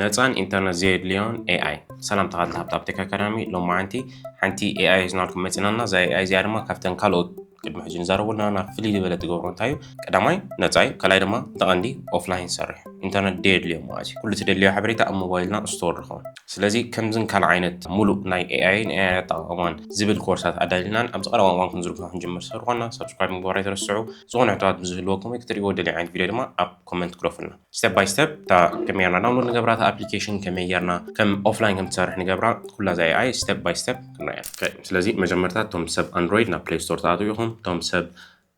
ነፃን ኢንተርነት ዘየድልዮን ኤኣይ ሰላም ተኻልቲ ሃብታብ ቴክ ኣካዳሚ ሎማዓንቲ ሓንቲ ኤኣይ ሒዝናልኩም መፂና እና እዛ ኤኣይ እዚኣ ድማ ካብተን ካልኦት ቅድሚ ሕጂ ንዛረበልና ና ፍልይ ዝበለ ትገብሮ እንታይ እዩ ቀዳማይ ነፃ እዩ ካልኣይ ድማ ተቐንዲ ኦፍላይን ሰርሕ ኢንተርነት ደየድልዮ ማለት እዩ ኩሉ ትደልዮ ሓበሬታ ኣብ ሞባይልና ስቶር ንኸውን ስለዚ ከምዝን ካልእ ዓይነት ሙሉእ ናይ ኤኣይን ኤኣይ ኣጠቃቕማን ዝብል ኮርሳት ኣዳሊናን ኣብዚ ቀረባ እዋን ክንዝርግሖ ክንጅምር ስለዝኾና ሳብስክራይብ ምግባር ኣይትረስዑ ዝኾነ ሕቶታት ብዝህልወኩም ወይ ክትሪእዎ ደልዮ ዓይነት ቪድዮ ድማ ኣብ ኮመንት ክረፉልና ስተፕ ባይ ስተፕ እታ ከመይ ጌርና ዳውንሎድ ንገብራ እታ ኣፕሊኬሽን ከመይ ጌርና ከም ኦፍላይን ከም ትሰርሕ ንገብራ ኩላ እዛ ኤኣይ ስተፕ ባይ ስተፕ ክንሪያ ስለዚ መጀመርታ እቶም ሰብ ኣንድሮይድ ናብ ፕሌይ ስቶር ተኣትው ኢኹም እቶም ሰብ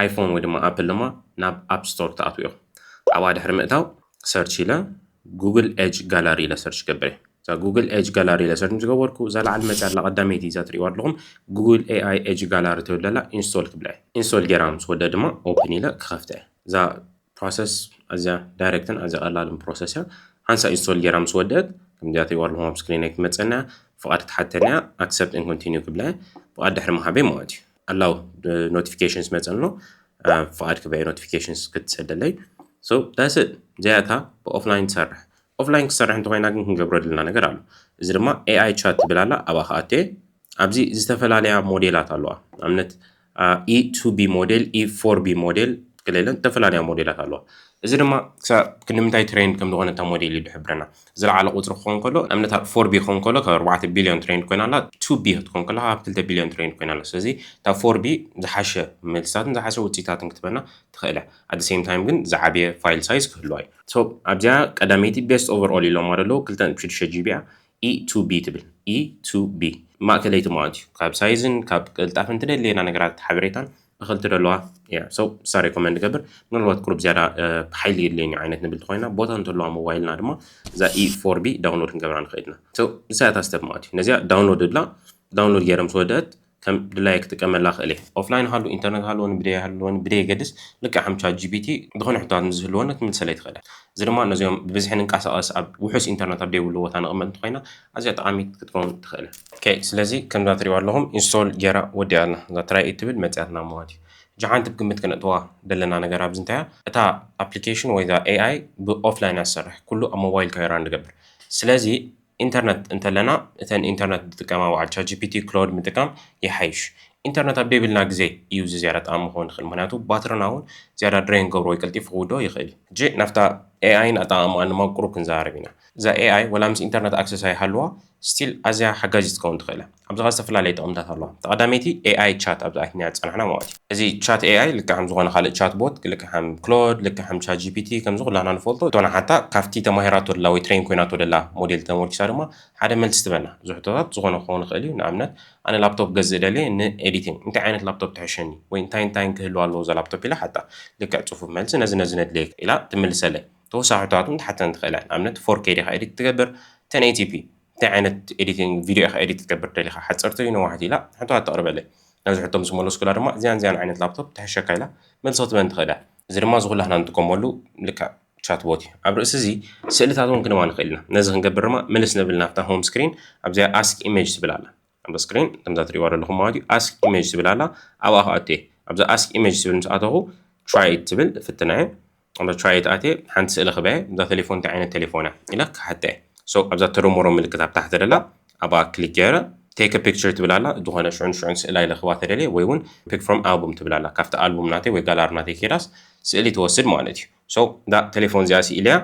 ኣይፎን ወይ ድማ ኣፕል ድማ ናብ ኣፕ ስቶር ተኣትው ኢኹም ኣብኣ ድሕሪ ምእታው ሰርች ኢለ ጉግል ኤጅ ጋላሪ ኢለ ሰርች ገብረ እዛ ጉግል ኤጅ ጋላሪ ኢለ ሰርች ዝገበርኩ እዛ ላዕሊ መፅያ ኣላ ቀዳመይቲ እዛ ትሪእዋ ኣለኹም ጉግል ኤኣይ ኤጅ ጋላሪ ትብል ዘላ ኢንስቶል ክብላ ኢንስቶል ጌራ ምስ ወደ ድማ ኦፕን ኢለ ክኸፍተ እዛ ፕሮሰስ ኣዝያ ዳይረክትን ኣዝያ ቀላልን ፕሮሰስ እያ ሓንሳእ ኢንስቶል ጌራ ምስ ወደት ከምዚኣ ተይዋርል ሆም ስክሪን ኣይ ትመጸና ፍቓድ ክትሓተኒ እያ ኣክሰፕት ን ኮንቲኒዩ ክብላ እየ ፍቓድ ድሕሪ ምሃበይ ማለት እዩ ኣላው ኖቲፊኬሽንስ መጸ ኣሎ ፍቓድ ክበየ ኖቲፊኬሽንስ ክትሰደለይ ሶ ዳስእ ዘያታ ብኦፍላይን ትሰርሕ ኦፍላይን ክትሰርሕ እንተኮይና ግን ክንገብረሉና ነገር ኣሎ እዚ ድማ ኤኣይ ቻት ትብል ኣላ ኣብኣ ከኣቴ ኣብዚ ዝተፈላለያ ሞዴላት ኣለዋ ንኣብነት ኢ ቱ ቢ ሞዴል ኢ ፎር ቢ ሞዴል ክለለን ዝተፈላለያ ሞዴላት ኣለዋ እዚ ድማ ክሳብ ክንምንታይ ትሬንድ ከም ዝኾነ እታ ሞዴል እዩ ዝሕብረና ዝለዓለ ቁፅሪ ክኸውን ከሎ ንኣብነት ኣብ ፎር ቢ ክኸውን ከሎ ካብ ኣርባዕተ ቢልዮን ትሬንድ ኮይና ኣላ ቱ ቢ ክትኮን ከላ ካብ ክልተ ቢልዮን ትሬንድ ኮይና ኣላ ስለዚ እታ ፎር ቢ ዝሓሸ መልስታትን ዝሓሸ ውፅኢታትን ክትበና ትኽእል እያ ኣደ ሴም ታይም ግን ዝዓበየ ፋይል ሳይዝ ክህልዋ እዩ ሶ ኣብዚኣ ቀዳመይቲ ቤስት ኦቨር ኦል ኢሎማ ደለዉ ክልተ ሽዱሽተ ጂቢ እያ ኢ ቱ ቢ ትብል ኢ ቱ ቢ ማእከለይቲ ምዃን እዩ ካብ ሳይዝን ካብ ቅልጣፈን ትደልየና ነገራት ሓበሬታን እኽል ትደለዋ እያ ሰው ንሳ ሬኮመንድ ገብር ምናልባት ቁሩብ ዝያዳ ሓይሊ የድልየኒ ዓይነት ንብል እንተኾይና ቦታ እንተለዋ ሞባይልና ድማ እዛ ኢ ፎር ቢ ዳውንሎድ ክንገብራ ንኽእል ኢና ሰው ንሳ እያ እታ ስተብ ማለት እዩ ነዚኣ ዳውንሎድ እብላ ዳውንሎድ ገይረ ምስ ወደአት ከም ድላየ ክጥቀመላ እኽእል እየ። ኦፍላይን ሃሉ ኢንተርነት ሃለወኒ ብደይ ሃለወኒ ብደየገድስ ልክዕ ከም ቻት ጂፒቲ ዝኾነ ሕቶታት ምስ ዝህልወኒ ክትምልሰለይ ትኽእል እያ። እዚ ድማ ነዚኦም ብብዝሒ ንንቀሳቐስ ኣብ ውሑስ ኢንተርነት ኣብ ደይብሉ ቦታ ንቕመጥ እንተኾይና ኣዝያ ጠቓሚት ክትከውን ትኽእል እያ። ኦኬ ስለዚ ከምዛ ትሪእዋ ኣለኹም ኢንስቶል ገይራ ወዲኣ ኣላ። እዛ ትራይ እትብል መጺኣትና ማለት እዩ። ሕጂ ሓንቲ ብግምት ከነእትዋ ደለና ነገር ኣብዚ እንታይ እያ እታ ኣፕሊኬሽን ወይ እዛ AI ብኦፍላይን እያ ትሰርሕ ኩሉ ኣብ ሞባይልካ እዩ ራን ዝገብር ስለዚ ኢንተርነት እንተለና እተን ኢንተርነት ዝጥቀማ በዓል ቻጂፒቲ ክሎድ ምጥቃም ይሓይሽ ኢንተርነት ኣብ ደይብልና ግዜ እዩ እዚ ዝያዳ ጠቓሚ ክኸውን ዝኽእል ምክንያቱ ባትርና እውን ዝያዳ ድሬን ክገብሮ ወይ ቀልጢፉ ክውድኦ ይኽእል እዩ ሕጂ ናብታ ኤኣይን ኣጠቓቕማኣን ድማ ቁሩብ ክንዘራረብ ኢና እዛ ኤኣይ ወላ ምስ ኢንተርነት ኣክሰስ ኣይሃልዋ ስቲል ኣዝያ ሓጋዚት ክትከውን ትኽእል እያ ኣብዚ ከኣ ዝተፈላለየ ጥቕምታት ኣለዋ። እታ ቀዳመይቲ AI ቻት ኣብዚ ኣቲናዮ ዝጸናሕና መዋእቲ እዩ። እዚ ቻት AI ልክዕ ከም ዝኾነ ካልእ ቻት ቦት፣ ልክዕ ከም ክሎድ፣ ልክዕ ከም ቻት ጂፒቲ፣ ከምዚ ኩላትና ንፈልጦ እቶ ንሓታ ካብቲ ተማሂራቶ ደላ ወይ ትሬን ኮይናቶ ደላ ሞዴል ተመርኲሳ ድማ ሓደ መልሲ ትበና። እዚ ሕቶታት ዝኾነ ክኸውን ይኽእል እዩ፣ ንኣብነት ኣነ ላፕቶፕ ክገዝእ ደልየ ን ኤዲቲንግ እንታይ ዓይነት ላፕቶፕ ትሕሸኒ ወይ እንታይን እንታይን ክህልዋ ኣለዎ እዛ ላፕቶፕ ኢለ እሓታ። ልክዕ ጽፉፍ መልሲ ነዚ ነዚ ነድልየካ ኢላ ትምልሰለይ። ተወሳኺ ሕቶታት እውን ትሓተኒ ትኽእል እያ፣ ንኣብነት ፎር ኬይ ዲኻ ኤዲት ትገብር፣ ቴን ኤይቲ ፒ እንታይ ዓይነት ኤዲቲንግ ቪድዮ ኢኻ ኤዲት ክትገብር ደሊኻ ሓፀርቲ ወይ ነዋሕቲ ኢላ ሕቶታት ተቕርበለይ ናብዚ ሕቶ ምስ መለስኩላ ድማ እዚያን እዚያን ዓይነት ላፕቶፕ ትሕሸካ ኢላ መልሲ ክትበኒ ትኽእል እያ እዚ ድማ እዚ ኩላህና ንጥቀመሉ ልክዕ ቻት ቦት እዩ ኣብ ርእሲ እዚ ስእልታት እውን ክንባ ንኽእል ኢና ነዚ ክንገብር ድማ ምልስ ንብል ናብታ ሆም ስክሪን ኣብዚኣ ኣስክ ኢሜጅ ትብል ኣላ ኣብ ስክሪን ከምዛ ትሪእዋ ዘለኹም ማለት እዩ ኣስክ ኢሜጅ ትብል ኣላ ኣብኣ ክኣቱ እየ ኣብዛ ኣስክ ኢሜጅ ትብል ምስ ኣተኹ ትራይ ትብል ፍትና እየ ኣብዛ ቻይት ኣትየ ሓንቲ ስእሊ ክበ እዛ ቴሌፎን እንታይ ዓይነት ቴሌፎን እያ ኢለ ክሓተ እየ ሶ ኣብዛ ተደመሮ ምልክት ኣብ ታሕቲ ደላ ኣብኣ ክሊክ ገይረ ቴክ ፒክቸር ትብል ኣላ ዝኾነ ሽዑን ሽዑን ስእላ ኢለ ክባ ተደልየ ወይ እውን ፒክ ፍሮም ኣልቡም ትብል ኣላ ካብቲ ኣልቡም ናተይ ወይ ጋላሪ ናተይ ከይዳስ ስእሊ ትወስድ ማለት እዩ ሶ እዛ ቴሌፎን እዚኣ ስኢለያ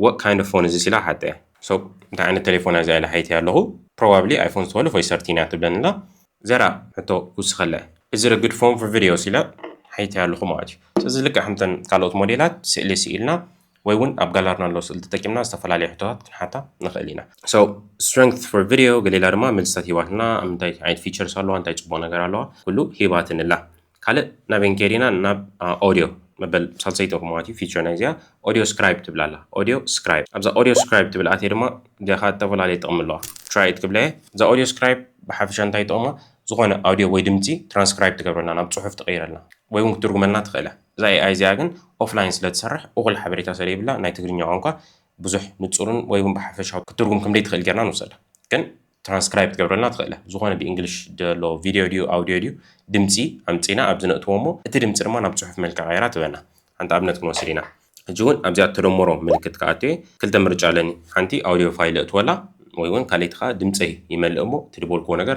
What kind of phone is this ኢላ ሓተያ። So እንታይ ዓይነት ተሌፎን እያ እዚኣ ኢለ ሓቲተያ ኣለኹ። Probably iPhone twelve ወይ thirteen እያ ትብለኒ ኣላ። ዘራ ሕቶ ክውስኸላ እየ። Is it a good phone for videos ኢለ ሓቲተያ ኣለኹ ማለት እዩ። ስለዚ ልክዕ ከምተን ካልኦት ሞዴላት ስእሊ ስኢልና ወይ እውን ኣብ ጋላርና ዘሎ ስእሊ ተጠቂምና ዝተፈላለዩ ሕቶታት ክንሓታ ንኽእል ኢና። So strength for video ገለ ኢላ ድማ መልስታት ሂባትና። ኣብ ምንታይ ዓይነት features ኣለዋ፣ እንታይ ፅቡቕ ነገር ኣለዋ፣ ኩሉ ሂባትኒ ኣላ። ካልእ ናበይን ከይዲና ናብ ኦድዮ መበል ሳልሰይቲ ክምዋት እዩ ፊቸር ናይ እዚኣ ኦድዮ ስክራይብ ትብል ኣላ ኦድዮ ስክራይብ ኣብዛ ኦድዮ ስክራይብ ትብል ኣትየ ድማ ዲኻ ዝተፈላለየ ጥቕሚ ኣለዋ ትራይት ክብለ እየ እዛ ኦድዮ ስክራይብ ብሓፈሻ እንታይ ጥቕማ ዝኾነ ኣውዲዮ ወይ ድምፂ ትራንስክራይብ ትገብረልና ናብ ፅሑፍ ትቐይረልና ወይ እውን ክትርጉመልና ትኽእለ እዛ ኤኣይ እዚኣ ግን ኦፍላይን ስለ ትሰርሕ እኹል ሓበሬታ ስለይብላ ናይ ትግርኛ ቋንቋ ብዙሕ ንፁርን ወይ እውን ብሓፈሻዊ ክትርጉም ከምደይ ትኽእል ጌርና ንውሰዳ ግን ትራንስክራይብ ክትገብረልና ትኽእል ኢኻ። ዝኾነ ብእንግሊሽ ዘሎ ቪድዮ ድዩ ኣውድዮ ድዩ ድምፂ ኣምፂእና ኣብዚ ነእትዎ እሞ እቲ ድምፂ ድማ ናብ ፅሑፍ መልክዕ ቀይራ ትበና። ሓንቲ ኣብነት ክንወስድ ኢና። ሕጂ እውን ኣብዚኣ እተደምሮ ምልክት ክኣቱ እየ። ክልተ ምርጫ ኣለኒ። ሓንቲ ኣውድዮ ፋይል እእትወላ ወይ እውን ካልኣይቲ ከዓ ድምፀይ ይመልእ እሞ እቲ ዝበልክዎ ነገር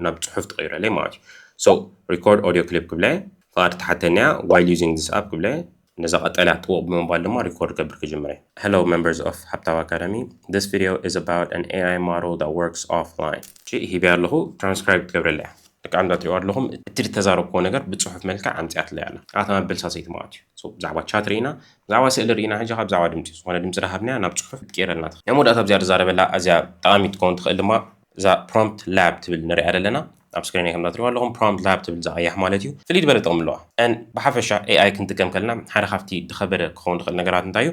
ናብ ፅሑፍ ትቕይረለይ ማለት እዩ። So Record Audio Clip ክብላ እየ። ፍቓድ ትሓተኒ እያ። While Using This App ክብላ እየ። ነዛ ቀጠልያ ጥውቕ ብምባል ድማ ሪኮርድ ክገብር ክጅምር እየ። Hello members of Habtao Academy This video is about an AI model that works offline ጭእ ሂበያ ኣለኹ ትራንስክራይብ ክትገብረለይ እያ ደቂ ኣንዳ ትሪእዋ ኣለኹም እቲ ዝተዛረብክዎ ነገር ብጽሑፍ መልክዕ ኣምጺኣትለይ ኣላ ኣታ መበል ሳሰይቲ መዓት እዩ ሶ ብዛዕባ ቻት ርኢና ብዛዕባ ስእሊ ርኢና ሕጂ ከ ብዛዕባ ድምጺ ዝኾነ ድምጺ ዳሃብናያ ናብ ጽሑፍ ክትቅይረልና ትኽእል ናይ መወዳእታ ብዝያዳ ዛረበላ ኣዝያ ጠቓሚት ክትከውን ትኽእል ድማ እዛ ፕሮምፕት ላብ ትብል ንሪኣ ዘለና ኣብ ስክሪነይ ከምዛ ትሪእዋ ኣለኹም ፕሮምፕት ላብ ትብል እዛ ቀያሕ ማለት እዩ ፍልይ ዝበለ ጥቕሚ ኣለዋ ን ብሓፈሻ ኤኣይ ክንጥቀም ከለና ሓደ ካብቲ ዝኸበደ ክኸውን ዝኽእል ነገራት እንታይ እዩ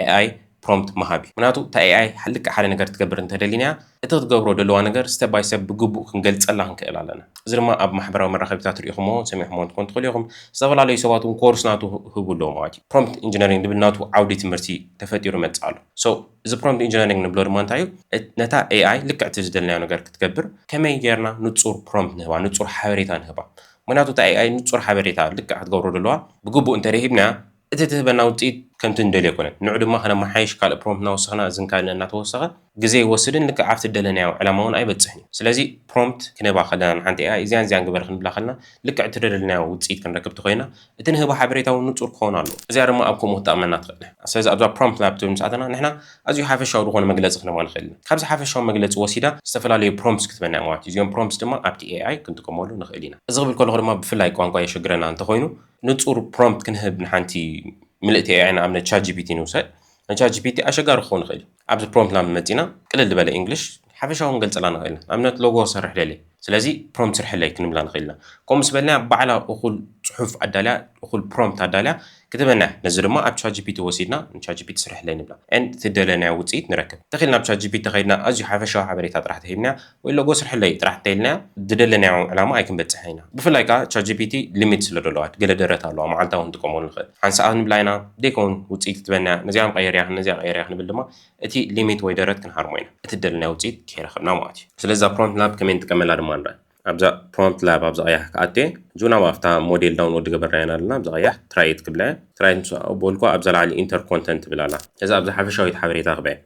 ኤኣይ ፕሮምፕት ምሃብ እዩ ምክንያቱ እታ ኤኣይ ልክዕ ሓደ ነገር ትገብር እንተደሊናያ እቲ ክትገብሮ ደለዋ ነገር ስተፕ ባይ ስተፕ ብግቡእ ክንገልፀላ ክንክእል ኣለና እዚ ድማ ኣብ ማሕበራዊ መራኸቢታት ሪኢኹምዎ ሰሚዕኹምዎ እንትኮን ትኽእሉ ኢኹም ዝተፈላለዩ ሰባት እውን ኮርስ ናቱ ክህቡ ኣለዎ ማለት እዩ ፕሮምፕት ኢንጂነሪንግ ዝብል ናቱ ዓውዲ ትምህርቲ ተፈጢሩ ይመፅእ ኣሎ ሶ እዚ ፕሮምፕት ኢንጂነሪንግ ንብሎ ድማ እንታይ እዩ ነታ ኤኣይ ልክዕ እቲ ዝደለናዮ ነገር ክትገብር ከመይ ጌርና ንጹር ፕሮምፕት ንህባ ንጹር ሓበሬታ ንህባ ምክንያቱ እታ ኤኣይ ንጹር ሓበሬታ ልክዕ ክትገብሮ ደለዋ ብግቡእ እንተደሂብናያ እቲ ትህበና ውፅኢት ከምቲ እንደልዮ ኣይኮነን ንዑ ድማ ከነመሓይሽ ካልእ ፕሮምፕት እናወሰኽና እዝን ካልእ እናተወሰኸ ግዜ ይወስድን ልክዕ ኣብቲ ዝደለናዮ ዕላማ እውን ኣይበፅሕን እዩ ስለዚ ፕሮምፕት ክንህባ ከለና ንሓንቲ ኤኣይ እዚያን እዚያን ግበሪ ክንብላ ከለና ልክዕ እቲ ዝደለናዮ ውፅኢት ክንረክብ ተኮይና እቲ ንህቦ ሓበሬታ እውን ንጹር ክኸውን ኣለዎ። እዚኣ ድማ ኣብ ከምኡ ክትጠቕመና ትኽእል። ስለዚ ኣብዛ Prompt Lab ትብል ምስ ኣተና ንሕና ኣዝዩ ሓፈሻዊ ዝኾነ መግለጺ ክንህባ ንኽእል ኢና። ካብዚ ሓፈሻዊ መግለጺ ወሲዳ ዝተፈላለዩ Prompts ክትበና እያ ማለት እዩ። እዚኦም Prompts ድማ ኣብቲ AI ክንጥቀመሉ ንኽእል ኢና። እዚ ክብል ከለኹ ድማ ብፍላይ ቋንቋ የሸግረና እንተኾይኑ ንጹር Prompt ክንህብ ንሓንቲ ምልእቲ AI ንኣብነት ChatGPT ንውሰድ። ናይ ቻት ጂፒቲ ኣሸጋሪ ክኸውን ይኽእል እዩ። ኣብዚ ፕሮምፕት ናብ መጺና ቅልል ዝበለ ኢንግሊሽ ሓፈሻዊ ክንገልጸላ ንኽእል ኢና። ንኣብነት ሎጎ ክሰርሕ ደልየ ስለዚ ፕሮምፕት ስርሕለይ ክንብላ ንኽእል ኢና። ከምኡ ምስ በልናያ ባዕላ እኹል ጽሑፍ ኣዳልያ እኹል ፕሮምፕት ኣዳልያ ክትህበና እያ። ነዚ ድማ ኣብ ቻት ጂፒቲ ወሲድና ንቻት ጂፒቲ ስርሕለይ ንብላ and እቲ ዝደለናዮ ውጽኢት ንረክብ። እንተኺኢልና ኣብ ቻት ጂፒቲ ከይድና ኣዝዩ ሓፈሻዊ ሓበሬታ ጥራሕ ተሂብናያ ወይ ሎጎ ስርሕለይ ጥራሕ እንተኢልናያ ዝደለናዮ ዕላማ ኣይክንበጽሕን ኢና። ብፍላይ ከኣ ቻትጂፒቲ ሊሚት ስለ ደለዋ ገለ ደረት ኣለዋ መዓልታዊ ክንጥቀመሉ ንኽእል። ሓንሳእ ክንብላ ኢና ዘይከውን ውጽኢት ክትበና ነዚኣ ቀይርያ ነዚኣ ቀይርያ ክንብል ድማ እቲ ሊሚት ወይ ደረት ክንሃርሞ ኢና እቲ ዝደለናዮ ውጽኢት ከይረኸብና ማለት እዩ። ስለዚ እዛ ፕሮምፕት ላብ ከመይ ንጥቀመላ ድማ ንርኣ። ኣብዛ ፕሮምፕት ላብ ኣብዚ ቀያሕ ክኣቱ እየ። እዙ ናብ ኣብታ ሞዴል ዳውንሎድ ዝገበርናያ ኢና ዘለና ኣብዚ ቀያሕ ትራይ ኢት ክብላ እየ። ትራይ ምስ በልኩዋ ኣብዛ ላዕሊ ኢንተር ኮንተንት ትብል ኣላ። እዛ ኣብዛ ሓፈሻዊት ሓበሬታ ክብላ እየ።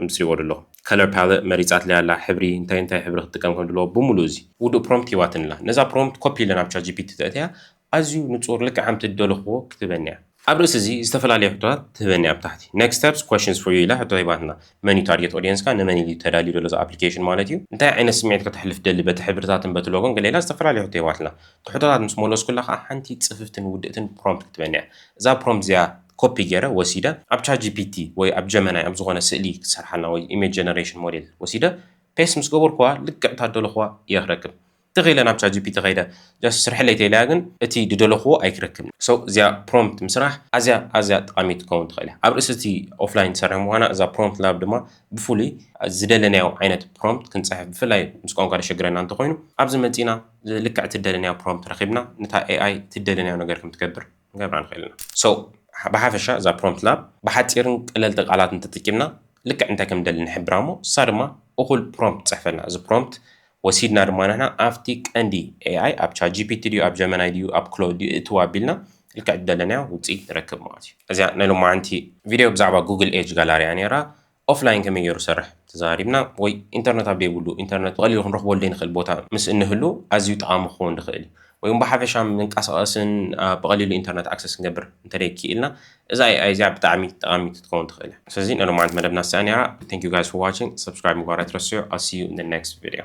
ኣምጺእዎ ደሎ Color Palette መሪጻትለይ ኣላ ሕብሪ እንታይ እንታይ ሕብሪ ክትጥቀም ከም ድልዎ ብሙሉኡ እዚ ውዱእ Prompt ሂባትኒ ኣላ ነዛ Prompt Copy ኢለ ናብ ChatGPT ተእትያ ኣዝዩ ንጹር ልክዕ ከምቲ ድደለክዎ ክትህበኒ እያ። ኣብ ርእሲ እዚ ዝተፈላለየ ሕቶታት ትህበኒ እያ ኣብ ታሕቲ Next Steps Questions for You ኢላ ሕቶ ሂባትና መን እዩ Target Audience ካ ንመን ኢሉ እዩ ተዳልዩ ደሎ እዚ Application ማለት እዩ እንታይ ዓይነት ስምዒት ከተሕልፍ ትደሊ በቲ ሕብርታትን በቲ ሎጎን ገለ ኢላ ዝተፈላለየ ሕቶ ሂባትና እቲ ሕቶታት ምስ መለስኩላ ከኣ ሓንቲ ጽፍፍትን ውድእትን Prompt ክትበኒ እያ እዛ Prompt እዚኣ ኮፒ ጌረ ወሲደ ኣብ ቻት ጂፒቲ ወይ ኣብ ጀመናይ ኣብ ዝኾነ ስእሊ ክትሰርሓልና ወይ ኢሜጅ ጀነሬሽን ሞዴል ወሲደ ፔስት ምስ ገበርኩዋ ልክዕ እታ ዝደለኹዋ እየ ክረክብ ትኽ ኢለ ናብ ቻት ጂፒቲ ከይደ ጃስት ስርሕለይ ተኢለያ ግን እቲ ዝደለኹዎ ኣይክረክብን so እዚኣ ፕሮምፕት ምስራሕ ኣዝያ ኣዝያ ጠቓሚት ክትከውን ትኽእል እያ ኣብ ርእሲ እቲ ኦፍላይን ትሰርሕ ምዃና እዛ ፕሮምፕት ላብ ድማ ብፍሉይ ዝደለናዮ ዓይነት ፕሮምፕት ክንጽሕፍ ብፍላይ ምስ ቋንቋ ዘሸግረና እንተኾይኑ ኣብዚ መጺእና ልክዕ እቲ ዝደለናዮ ፕሮምፕት ረኺብና ነታ AI እቲ ዝደለናዮ ነገር ከም ትገብር ክንገብራ ንኽእል ኢና። So ብሓፈሻ እዛ Prompt Lab ብሓጺርን ቀለልቲ ቃላትን ተጠቂምና ልክዕ እንታይ ከም ንደሊ ንሕብራ እሞ ንሳ ድማ እኹል Prompt ትጽሕፈልና። እዚ Prompt ወሲድና ድማ ንሕና ኣብቲ ቀንዲ AI ኣብ ChatGPT ድዩ ኣብ Gemini ድዩ ኣብ Claude ድዩ እእትዋ ኣቢልና ልክዕ ዝደለናዮ ውጽኢት ንረክብ ማለት እዩ። እዚኣ ናይ ሎማዓንቲ Video ብዛዕባ Google Edge Gallery እያ ኔራ። ኦፍላይን ከመይ ገይሩ ዝሰርሕ ተዘራሪብና ወይ ኢንተርነት ኣብ ዘይብሉ ኢንተርነት ብቐሊሉ ክንረኽበሉ ዘይንኽእል ቦታ ምስ እንህሉ ኣዝዩ ጠቓሚ ክኸውን ዝኽእል እዩ። ወይ እውን ብሓፈሻ ምንቀሳቐስን ብቐሊሉ ኢንተርነት ኣክሰስ ክንገብር እንተደይ ክኢልና እዛ AI እዚኣ ብጣዕሚ ጠቓሚት ክትከውን ትኽእል እያ። ስለዚ ናይ ሎማዓንቲ መደብና እዚኣ ነይራ። Thank you guys for watching፣ subscribe ምግባር ኣይትረስዑ፣ I'll see you in the next video።